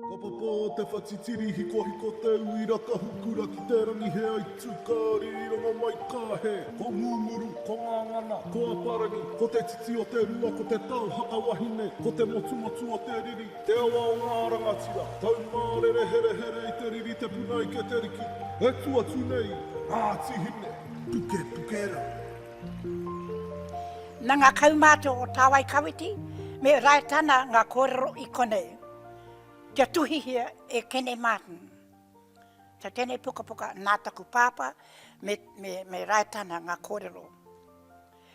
Ka papa te whatitiri hikohiko te uira ka hukura ki te rangi he aitu ka rironga mai ka he Ko Ngunguru, ko Ngangana, ko Aparangi Ko te titi o te rua ko te tau haka wahine Ko te motumotu o te riri, te awa o ngā rangatira Taumārere herehere i te riri te puna ike te riki E tu atu nei, Ngāti Hine, puke puke rā. Na nga kaumātua o Tāwai Kawiti me Raetana nga kōrero i konei, kia tuhihia e Kene Martin. Ta tenei pukapuka Nā Taku Pāpā me, me, me Raetana nga kōrero.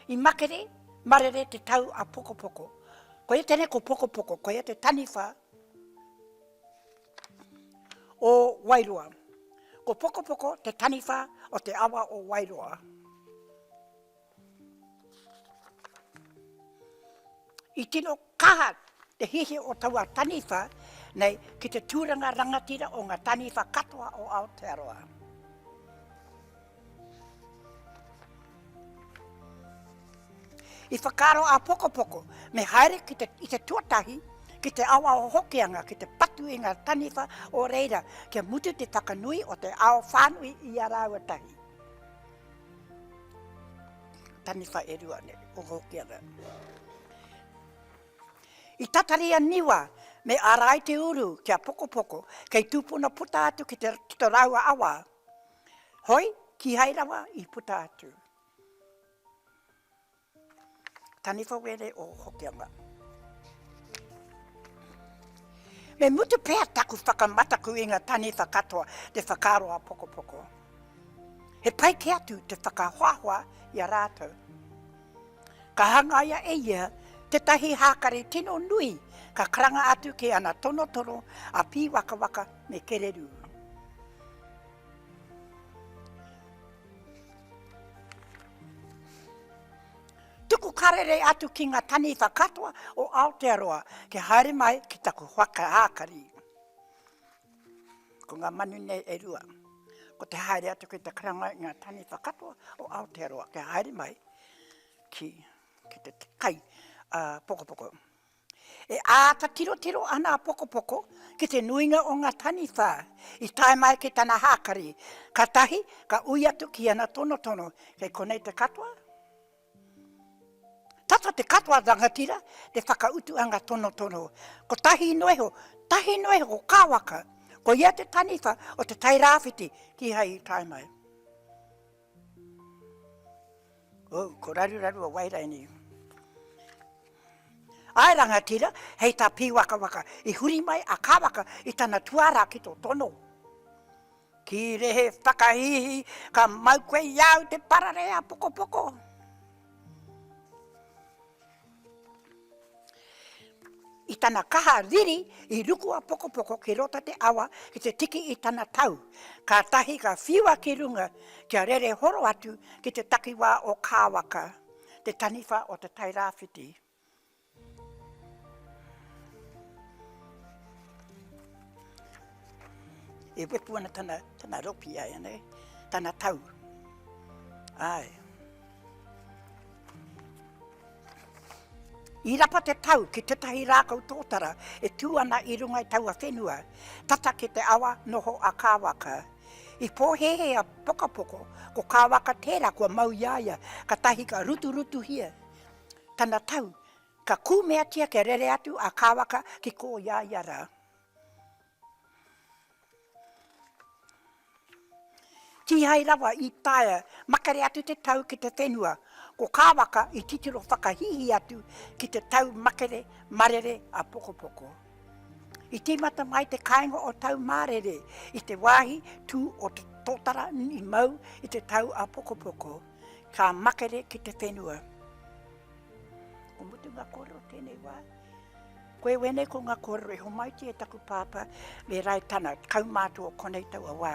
I makere, marere te tau a Pokopoko. Koia tenei ko Pokopoko, koia te taniwha o Wairoa. Ko Pokopoko te taniwha o te awa o Wairoa. I tino kaha te hihi o taua taniwha nei ki te tūranga rangatira o ngā taniwha katoa o Aotearoa. I whakaaro a Pokopoko me haere ki te, i te tuatahi ki te awa o Hokianga ki te patu i ngā taniwha o reira kia mutu te whakanui o te ao whānui i a rāua tahi. Taniwha e rua ne, o Hokianga. I tatari a Niwa me ārai te uru ki a Pokopoko kei tūpuna puta atu ki te, ki te rāua awa Hoi, kihai rawa i puta atu. Taniwha Were o Hokianga. Me mutu pea taku whakamataku i nga taniwha katoa te whakaaro a Pokopoko. He pai ke atu te whakahoahoa i a ratou. Ka hangaia e ia tētahi hākari tino nui ka karanga atu ki ana tono toro a Pīwakawaka me Kererū. Tuku karere atu ki ngā taniwha katoa o Aotearoa kia haere mai ki taku whakahākari. Ko ngā manu nei e rua. Ko te haere atu ki te karanga i ngā taniwha katoa o Aotearoa kia haere mai ki te kai pokopoko. E āta tirotiro ana a Pokopoko ki te nuinga o ngā taniwha i tae mai ki tana hākari, ka tahi ka ui atu ki ana tonotono, kei konei te katoa? Tata te katoa rangatira, te whakautu anga tonotono. Kotahi noa iho, tahi noa iho ko ka waka, ko ia te taniwha o te Tairāwhiti kihai i tae mai. Oh, ko raruraru o Wairaini. Ae rangatira, hei ta Piwakawaka, i huri mai a Kawaka i tana tuara ki to tono. Kīrehe whakahīhī, ka mau koe i a au te pararei a Pokopoko. I tana kaha riri, i ruku a Pokopoko ki rota te awa ki te tiki i tana tau, kātahi ka whiua ki runga kia rere horo atu ki te takiwā o Kāwaka, te taniwha o Te Tairāwhiti. E wepu ana tana, tana ropi ai, anei, tana tau. Ai. I rapa te tau ki tetahi rākau tōtara e tū ana i runga i taua whenua, tata ki te awa noho a Kāwaka. I pōhēhē a Pokapoko, ko Kāwaka tērā kua mau i a ia, katahi ka ruturutuhia tana tau, ka kūmeatia kia rere atu a Kāwaka ki kō i a ia rā. Kīhai rawa i taea makere atu te tau ki te whenua, ko Kāwaka i titiro whakahīhī atu ki te tau makere marere a Pokopoko. I tīmata mai te kāinga o Taumārere i te wāhi tū o te tōtara i mau i te tau a Pokopoko. Ka makere ki te whenua. Ko mutu nga korero tenei wa. Koe wene ko nga korero e homaitia e taku papa me rae tana kaumato o konei taua wa.